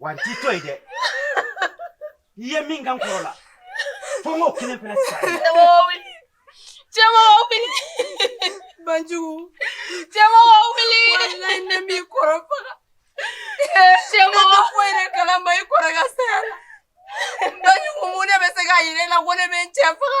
wa n t'i to yen dɛ i ye min kɛ n kɔrɔ la fo n k'o kelen fana sa cɛmɔgɔ wuli banjugu cɛmɔgɔ wuli walayi ne m'i kɔrɔ faga cɛmɔgɔ ko yɛrɛ kala ma i kɔrɔ ka saya la banjugu mun de bɛ se k'a yira e la ko ne bɛ n cɛ faga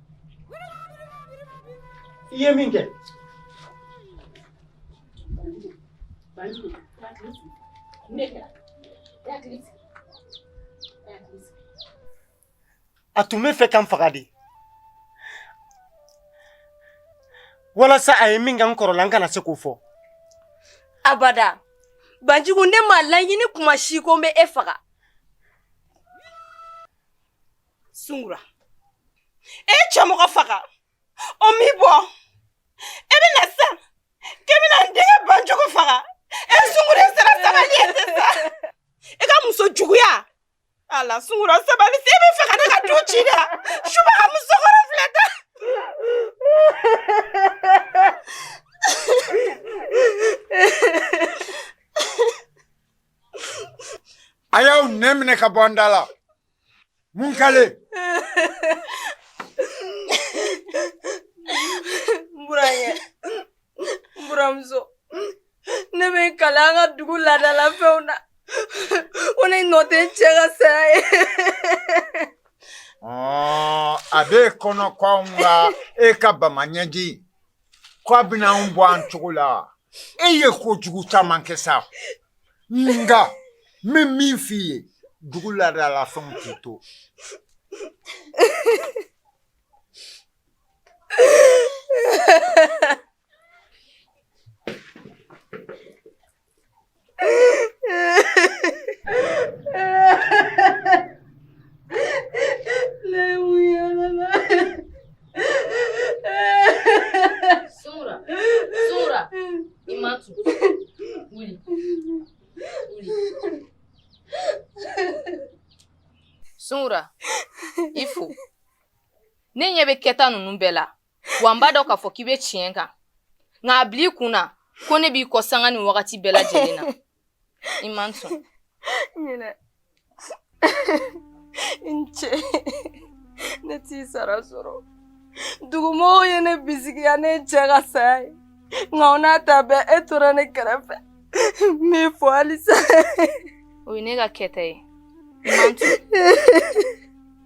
i ye min kɛ a tun b'a fɛ ka n faga de walasa a ye min kɛ n kɔrɔ la n kana se k'o fɔ abada banjugu ne m'a laɲini tuma si ko n bɛ e faga Sungura e ye cɛmɔgɔ faga o m'i bɔ e bɛ na sisan k'e bɛna n denkɛ banjugu faga e sungura sera sabali ye sisan e ka muso juguya ala sungura sabali sa e b'a fɛ ka ne ka du ci dɛ subaga musokɔrɔ filɛ dɛ a y'aw nɛn minɛ ka bɔ n da la N bɛ n kali. N burankɛ. N buranmuso. Ne bɛ n kali an ka dugu laadala fɛnw na. Ko ne nɔ tɛ n cɛ ka saya ye. Ɔɔ a b'e kɔnɔ ko anw ka e ka bama ɲɛji K' a bɛna anw bɔ an cogo la e ye ko jugu caman kɛ sa nka n bɛ min f' i ye dugu laadala fɛn k'i to Sungura i fo ne ɲɛ bɛ kɛta ninnu bɛɛ la wa n b'a dɔn k'a fɔ k'i bɛ tiɲɛ kan nka a bil'i kun na ko ne b'i kɔ sanga nin wagati bɛɛ lajɛlen na i man sɔn i ni ce ne t'i sara sɔrɔ dugumɔgɔw ye ne bisigiya ne cɛ ka saya ye nka o n'a ta bɛɛ e tora ne kɛrɛfɛ n b'i fo halisa o ye ne ka kɛta ye i man sɔn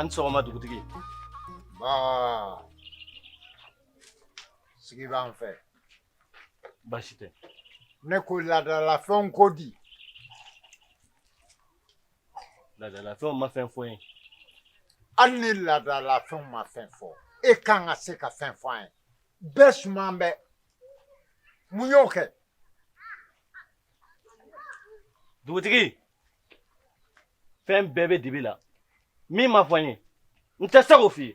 an sɔgɔma dugutigi basigi b'an fɛ baasi tɛ ne ko laadalafɛnw ko di Ladalafɛnw ma fɛn fɔ n ye hali ni ladalafɛnw ma fɛn fɔ e ka kan ka se ka fɛn fɔ n ye bɛɛ su bɛ mun y'o kɛ dugutigi fɛn bɛɛ bɛ dibi la min ma fɔ n ye n tɛ se k'o f'i ye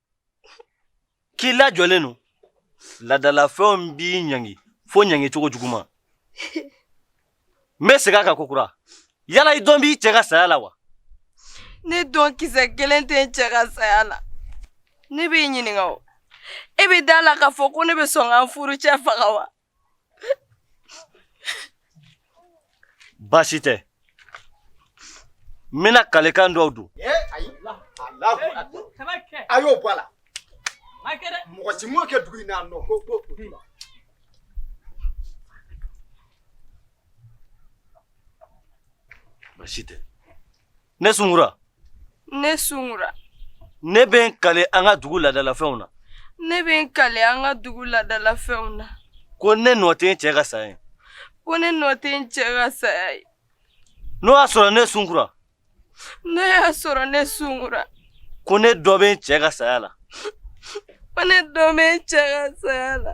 k'i lajɔlen don ladalafɛnw b'i ɲangi fo ɲangi cogo juguman n bɛ segin a kan kokura yala i dɔn b'i cɛ ka saya la wa ne dɔn kisɛ kelen tɛ n cɛ ka saya la ne b'i ɲininka o e bɛ d'a la k'a fɔ ko ne bɛ sɔn ka n furucɛ faga wa Baasi tɛ n bɛna kalekan dɔw don a y'o bɔ a la mɔgɔ si m'o kɛ dugu in na nɔ ko ko baasi tɛ ne sunkura ne sunkura ne bɛ n kale an ka dugu ladalafɛnw na ne bɛ n kale an ka dugu ladalafɛnw na ko ne nɔ tɛ n cɛ ka saya ye ko ne nɔ tɛ n cɛ ka saya ye n'o y'a sɔrɔ ne sunkura n'o y'a sɔrɔ ne sunkura ko ne dɔn bɛ n cɛ ka saya la ko ne dɔn bɛ n cɛ ka saya la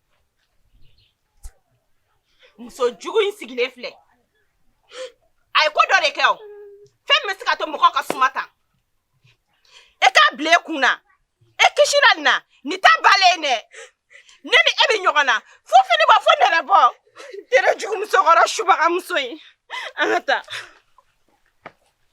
muso jugu in sigilen filɛ a ye ko dɔ de kɛ o fɛn min bɛ se ka to mɔgɔ ka suma tan e k'a bila e kun na e kisira nin na nin t'a bali dɛ ne ni e bɛ ɲɔgɔn na fo fini bɔ fo nɛrɛ bɔ tere jugu musokɔrɔ subagamuso in an ka taa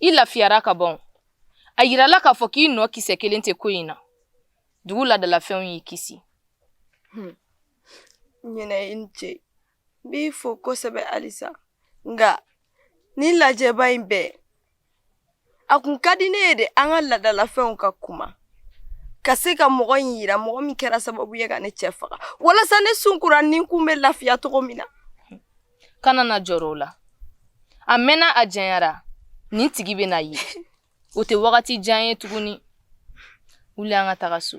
I lafiyara ka ban a yirala k'a fɔ k'i nɔ kisɛ kelen tɛ ko in na dugu ladalafɛnw y'i kisi ɲinɛ i ni ce n b'i fo kosɛbɛ halisa nka nin lajɛba in bɛɛ a kun ka di ne ye de an ka laadalafɛnw ka kuma ka se ka mɔgɔ in yira mɔgɔ min kɛra sababu ye ka ne cɛ faga walasa ne sunkura ni kun bɛ lafiya cogo min na kana na jɔrɔ o la a mɛnna a janyara nin tigi bɛ na ye o tɛ wagati jan ye tuguni wuli an ka taga so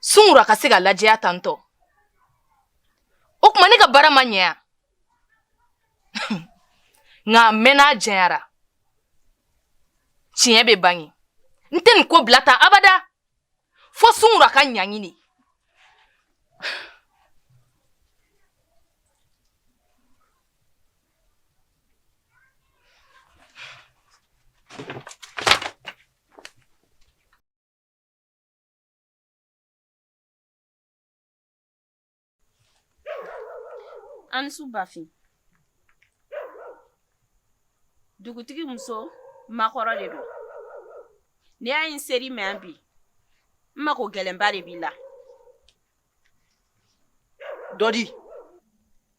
sunkura ka se ka lajɛya tan tɔ o tuma ne ka baara ma ɲɛ yan nka a mɛnna a janyara tiɲɛ bɛ bange n tɛ nin ko bila tan abada fo sunkura ka ɲaɲini A ni su bafin dugutigi muso makɔrɔ de don ne ayi n sera i ma yan bi n mako gɛlɛnba de b'i la cogo di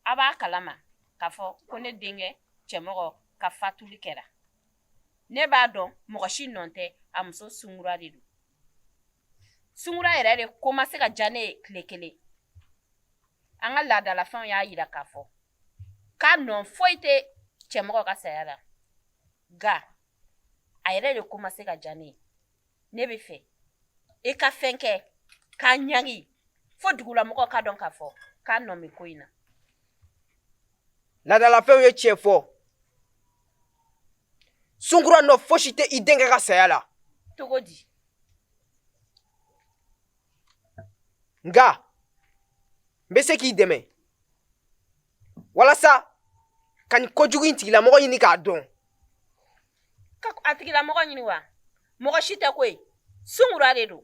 a b'a kalama k'a fɔ ko ne denkɛ cɛmɔgɔ ka fatuli kɛra ne b'a dɔn mɔgɔ si nɔ tɛ a muso sunkura de don sunkura yɛrɛ de ko ma se ka diya ne ye tile kelen an ka laadalafɛnw y'a yira k'a fɔ k'a nɔ foyi tɛ cɛmɔgɔ ka saya la nka a yɛrɛ de ko ma se ka diya ne ye ne b'a fɛ i ka fɛn kɛ k'a ɲangi fo dugulamɔgɔw k'a dɔn k'a fɔ k'a nɔ bɛ ko in na laadalafɛnw ye tiɲɛ fɔ sunkura nɔ fosi tɛ i denkɛ ka saya la cogo di nka n bɛ se k'i dɛmɛ walasa ka nin kojugu in tigilamɔgɔ ɲini k'a dɔn ka a tigilamɔgɔ ɲini wa mɔgɔ si tɛ koyi sunkura de don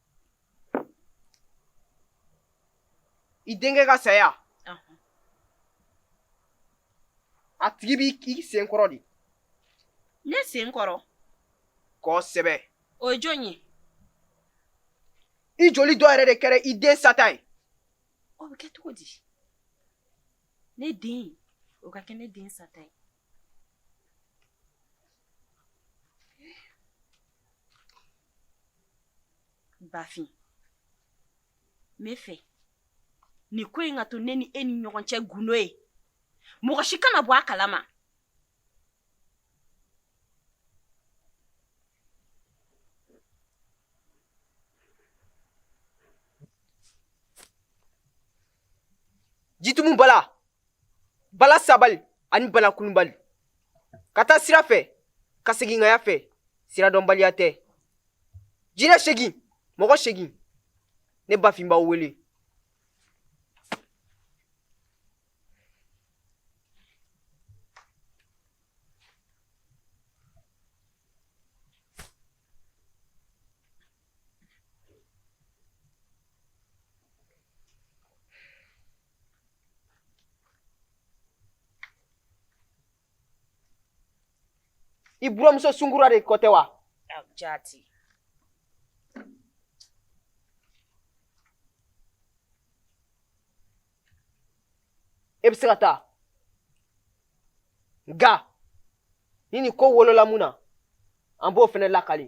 i denkɛ ka saya a tigi bɛ i sen kɔrɔ de ne sen kɔrɔ kosɛbɛ o ye jɔn ye i joli dɔ yɛrɛ de kɛra i den sata ye o bɛ kɛ cogo di ne den o ka kɛ ne den sata ye Bafin n b'a fɛ nin ko in ka to ne ni e ni ɲɔgɔn cɛ gundo ye mɔgɔ si kana bɔ a kalama jitumu bala bala sabali ani bala kulubali ka taa sira fɛ ka segin kaya fɛ sira dɔnbaliya tɛ jinɛ segin mɔgɔ segin ne bafin b'aw wele i buranmuso sunkura de ko tɛ wa jati e bɛ se ka taa nka ni nin ko wolola mun na an b'o fɛnɛ lakali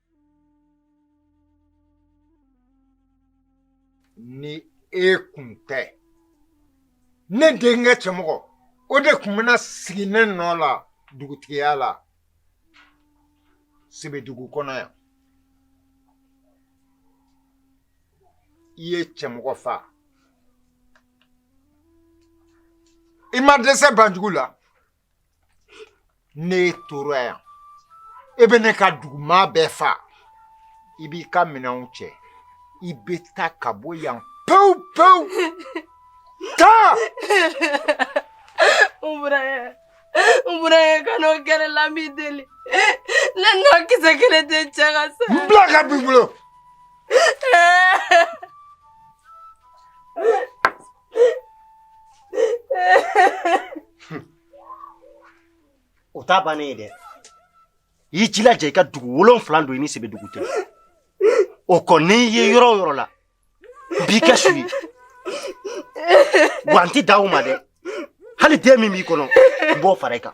Ni e kun tɛ ne denkɛ cɛmɔgɔ o de kun bɛna sigi ne nɔ la dugutigiya la sebedugu kɔnɔ yan i ye cɛmɔgɔ fa i ma dɛsɛ banjugu la ni e tora yan e bɛ ne ka dugumaa bɛɛ fa i b'i ka minɛnw cɛ i bɛ taa ka bɔ yan pewu pewu taa n buran n buran kana o kɛ ne la n b'i deli ne nɔ kisɛ kelen tɛ cɛ ka sa n bila ka b'i bolo o t'a bannen ye dɛ i y'i jilaja i ka dugu wolonfila don i ni sebedugu cɛ o kɔ n y'i ye yɔrɔ o yɔrɔ la n b'i kɛ su ye wa n ti dan o ma dɛ hali den min b'i kɔnɔ n b'o fara i kan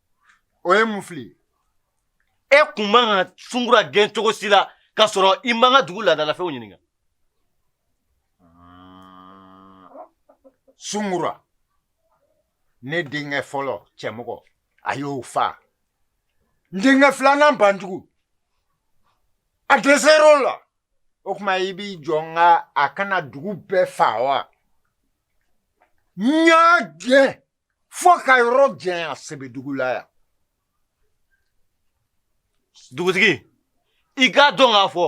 o ye mun fili e kun man ka sungura gɛn cogo si la k'a sɔrɔ i m'an ka dugu laadalafɛnw ɲininka sungura ne denkɛ fɔlɔ cɛmɔgɔ a y'o fa n denkɛ filanan banjugu a dɛsɛr'o la o tuma i b'i jɔ n ka a ka na dugu bɛɛ fa wa n y'a gɛn fo k'a yɔrɔ janya sɛbɛdugu la yan dugutigi i k'a dɔn k'a fɔ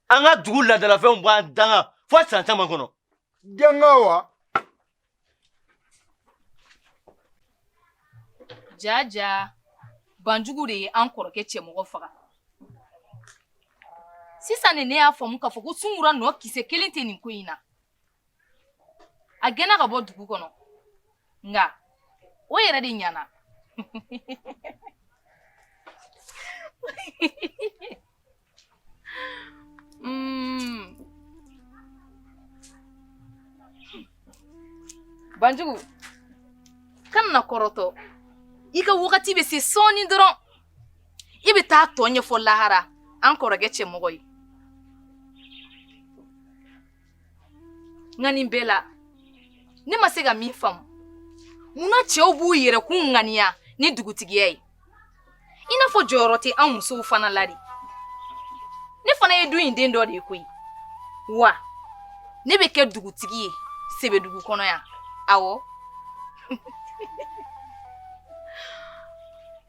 an ka dugu laadalafɛnw b'an danga fo san caman kɔnɔ danga wa jaa jaa banjugu de ye an kɔrɔkɛ cɛmɔgɔ faga sisan de ne y'a faamu k'a fɔ ko sunkura nɔ kisɛ kelen tɛ nin ko in na a gɛnna ka bɔ dugu kɔnɔ nka o yɛrɛ de ɲana mm. banjugu kana kɔrɔtɔ i ka wagati bɛ se sɔɔni dɔrɔn i bɛ taa tɔ ɲɛfɔ lahara an kɔrɔkɛ cɛmɔgɔ ye nka nin bɛɛ la ne ma se ka min faamu mun na cɛw b'u yɛrɛkun ŋaniya ni dugutigiya ye i n'a fɔ jɔyɔrɔ tɛ an musow fana la dɛ ne fana ye du in den dɔ de ye koyi wa ne bɛ kɛ dugutigi ye sebedugu kɔnɔ yan awɔ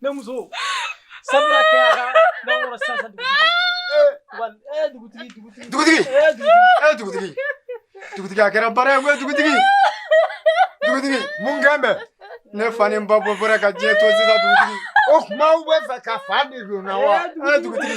Ne muso sabula kɛra n'aw sa dugutigi dugutigi dugutigi dugutigi dugutigi a kɛra baara ye dugutigi dugutigi mun kɛn bɛ ne fa ni n ba bɔ bɔra ka diɲɛ to sisan dugutigi o kuma aw b'a fɛ ka fa de don n na wa dugutigi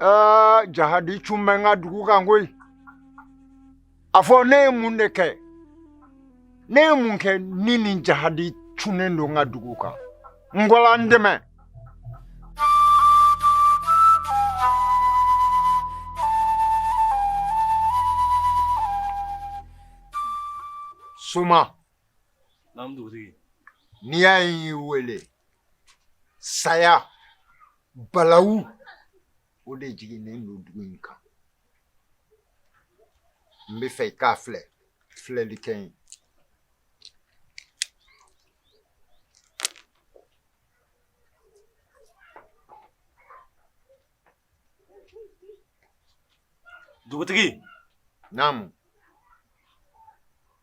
Aa jahadi cun bɛ n ka dugu kan koyi a fɔ ne ye mun de kɛ ne ye mun kɛ ni nin jahadi cunnen don n ka dugu kan ngala n dɛmɛ soma n'i y'a ye n y'i wele saya balawu o de jiginnen don dugu in kan n b'a fɛ i k'a filɛ filɛli kɛ ye dugutigi naamu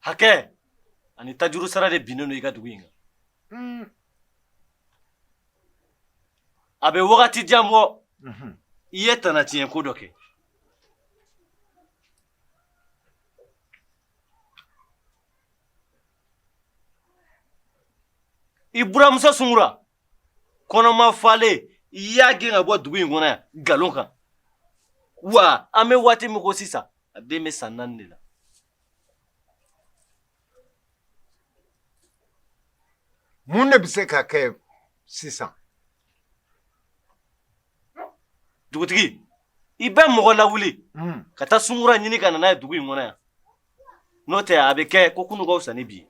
hakɛ ani tajurusara de binnen don i ka dugu in kan a bɛ wagati jan bɔ i ye tana tiɲɛ ko dɔ kɛ i buranmuso sungura kɔnɔma falen i y'a gɛn ka bɔ dugu in kɔnɔ yan nkalon kan wa an bɛ waati min ko sisan a den bɛ san naani de la mun de bɛ se ka kɛ sisan dugutigi i bɛ mɔgɔ lawuli hmm. ka taa sungura ɲini ka na n'a ye dugu in kɔnɔ yan n'o tɛ a bɛ kɛ ko kunun ka fisa ni bi ye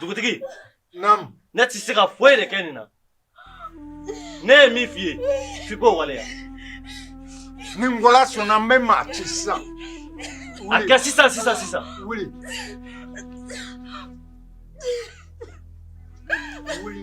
dugutigi Naamu. ne tɛ se ka foyi de kɛ nin na ne ye min f'i ye f'i k'o waleya Ni Ngala sɔnna n bɛ maa ci sisan. a kɛ sisan sisan sisan Wuli. Wuli.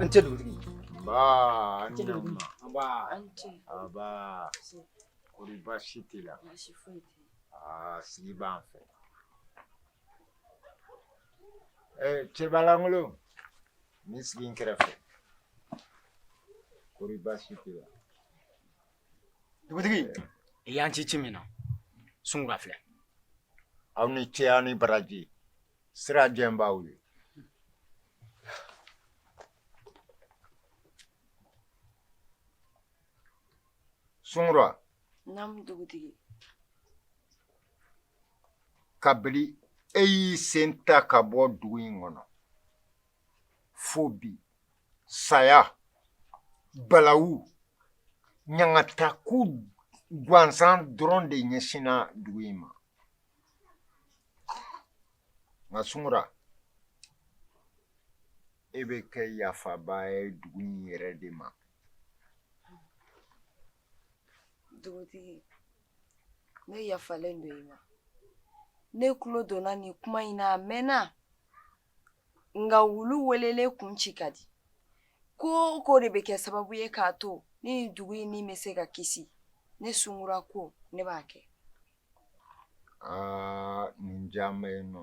Anche lui. Ba, anche lui. Ba, anche. Ba. Sì. Kuri ba shi te la. Ba shi fo te. Ah, si ba an fɛ. Eh, cɛbalangolo. Ni sigi n kɛrɛfɛ. Kuri ba shi te la. dugutigi i y'an ci ci min na sungura filɛ aw ni ce aw ni baraji sira jɛn b'aw ye sungura naamu dugutigi kabini e y'i sen ta ka bɔ dugu in kɔnɔ fo bi saya balawu ɲangata ko gansan dɔrɔn de ɲɛsinna dugu in ma nka sungura e bɛ kɛ yafaba ye dugu in yɛrɛ de ma dugutigi ne yafalen don i ma ne tulo donna nin kuma in na a mɛnna nka wulu welelen kun ci ka di ko o ko de bɛ kɛ sababu ye k'a to ne ni dugu in ni bɛ se ka kisi ne sungura ko ne b'a kɛ aa nin diya n bɛ yen nɔ